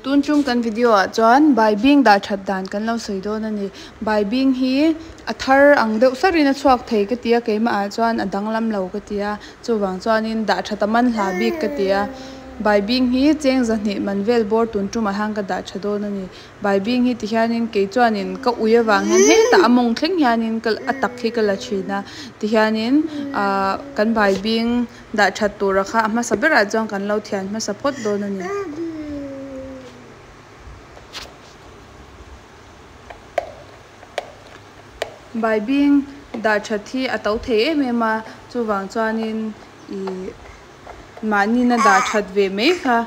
Tun chung kan video ah chuan bai bing dah that dan kan lo sawi dawn a ni. Bai bing hi a thar ang deuh sar in a chhuak thei ka ti a, keimah ah chuan a danglam lo ka ti a, chuvang chuan in dah that a man hla bik ka ti a. Bai bing hi cheng zahnih man vel bawr tun tum ah hian ka dah tha dawn a ni. Bai bing hi ti hian in kei chuan in ka ui avang hian hetah a mawng thleng hian in ka a tak hi ka la thin a, ti hian in ahh kan bai bing. Dah that tura kha a hmasa berah chuan kan lo thian hmasa phawt dawn a ni. Baibing dah that hi a to thei em em a, chuvang chuanin ih mahnina dah that ve mai kha.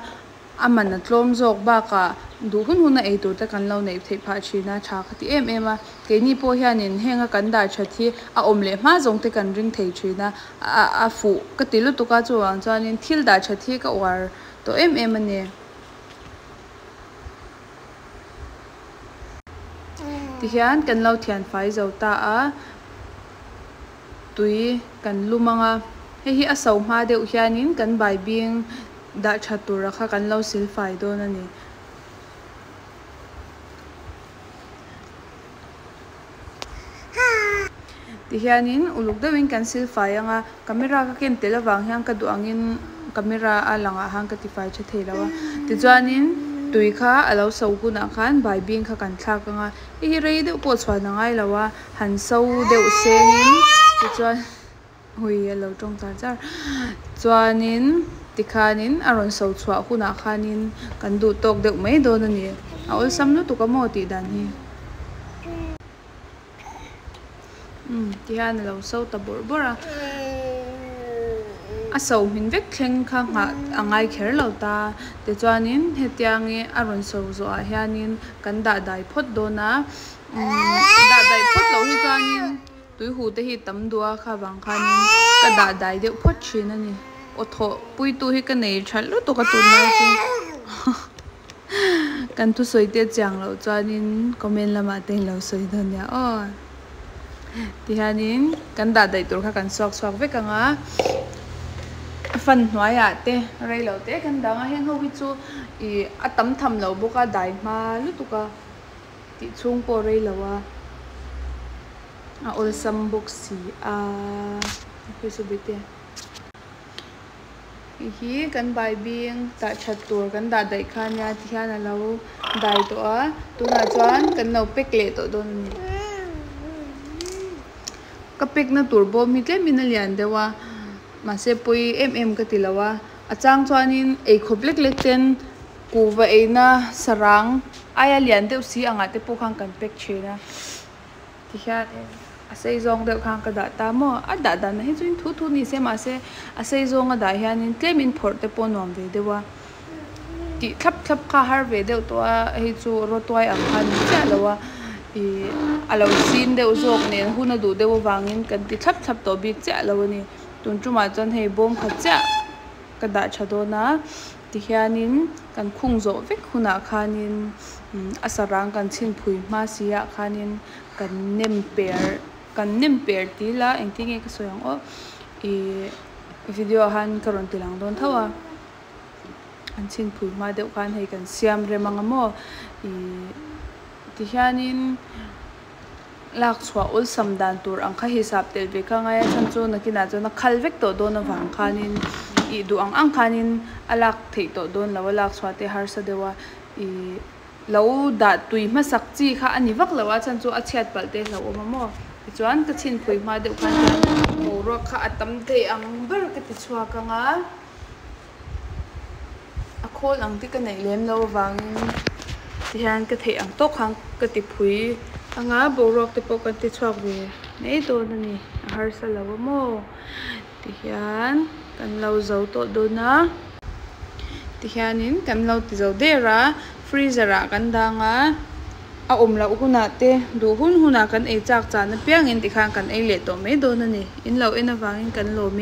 A man a tlawm zawk bakah duh hun hun a ei tur te kan lo neih theih phah thin a, tha ka ti em em a. Keini pawh hianin heng a kan dar that hi a awm leh hma zawng te kan ring thei thin a, a fuh ka ti lutuk a, chuvang chuanin thil dar that hi ka uar tawh em em a ni. Tihian kan lo thianfai zo ta a. tui kan lu mang a, hei hi a so hma deuh hianin kan bai bing dah tha tura kha kan lo sil fai dawn a ni. Ti hianin uluk deuhin kan sil fai ang a, camera ka ken telh avang hian ka duh angin camera a lang ah han ka ti fai tha thei lo a. Tichuanin tui kha a lo so hunah khan bai bing kha kan thlak ang a, hei hi rei deuh pawh chhuan a ngai lo a. han so deuh sengin tichuan ui a lo tawng ta zar chuanin tikhanin a rawn so chhuah hunah khanin kan duh tawk deuh mai dawn a ni a awlsam lutuk a maw tih dan hi umm tihian a lo so ta bawrh bawrh a a so hmin vek thleng kha nghah a ngai kher lo ta tichuanin hetiang i a rawn so zawh ah hianin kan dahdai phawt dawn a. dah daih phawt loh hi chuanin tuihute hi tam duh a kha vang khanin ka dah dai deuh phawt thin a ni aw thawh puitu hi ka nei tha lutuk a tun lai chu kan thusawi te chiang loh chuanin comment lamah te in lo sawi dawn nia aw ti hianin kan dah daih tur kha kan chhuak chhuak vek ang a fan hnuaiah te rei lo te kan dang a heng ho hi chu ih a tam tham lo bawk a dai hma lutuk a. tih chhung pawh rei lo a, a awlsam bawk si a. Hei hi kan baibing tah that tur kan dah daih kha nia ti hian a lo dai tawh a, tunah chuan kan lo pack leh tawh dawn a ni. Ka pack na tur bawm hi tlem in a lian deuh a, mahse pawi em em ka ti lo a, a chang chuan in ei khawp lek lek ten Pu va eina sarang aia lian deuh si angah te pawh khan kan pack thin a, tihian a sei zawng deuh khan ka dah ta maw? A dah dan na hi chuan thu thu nise mahse a sei zawng a dah hian in tlem in phawrh te pawh nuam ve deuh a, tih thlap thlap kha har ve deuh tawh a, hei chu rawtuai ang kha ni chiah lo a, ih a lo sin deuh zawk nen hun a duh deuh avangin kan ti thlap thlap tawh bik chiah lo a ni, tun tumah chuan hei bawm khat chiah ka dah tha dawn a. Tihianin kan khung zawh vek hunah khanin a sarang kan chhin phui hma siah khanin kan nem per kan nem per ti ila engti nge ka sawi ang aw ih video ah han ka rawn ti lang dawn tho a an chhin phui hma deuh khan hei kan siam rem ang a maw ih tihianin. lak chhuah awlsam dan tur ang kha hisap telh ve ka ngai a chhan chu nakinah chuan a khal vek tawh dawn avang khanin ih duh ang ang khanin a lak theih tawh dawn lo a lak chhuah te harsa deuh a ih lo dah tui hmasak chi kha a ni vak lo a chhan chu a chhiat palh te hlauh awm a maw tichuan ka chhin phui hma deuh khan boruak kha a tam thei ang ber ka ti chhuak ang a. A khawl ang te ka neih lem lo avangin ti hian ka theih ang tawk khan ka ti phui a nga boruak te pawh kan ti chhuak ve mai dawn a ni a harsa lo a maw ti hian kan lo zo tawh dawn a ti hianin kan lo ti zo der a freezer ah kan dang a a awm loh hunah te duh hun hunah kan ei chak chana piangin ti khan kan ei leh tawh mai dawn a ni in lo en avangin kan lawm in.